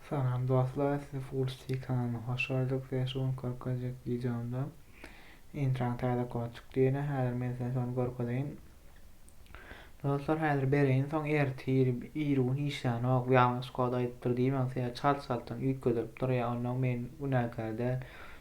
Salam dostlar sizi full stik kanalyna hoş gördük size şu gün görkezjek videomda intraň täze kod çykdy ýene häzir men size şony görkezeýin dostlar häzir bereýin soň ertir iri gün işlänok ýalňyş kod aýdypdyr diýmäň size çalt çaltdan üýtgedilip durýar ondan men günäkär däl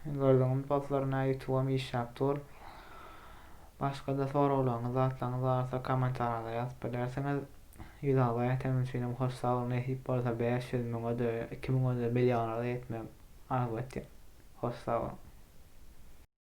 Gördüňizmi dostlar nä ýutuwam işläp dur. Başgada soraglaryňyz zatlaryňyz barsa komentariýada ýazyp bilersiňiz. Ýüz abaýa ýetenim üçinem hoş sagboluň nesip bolsa bäş ýüz müňede iki müňede millionada ýetmegi arzuw etýän. Hoş sagboluň.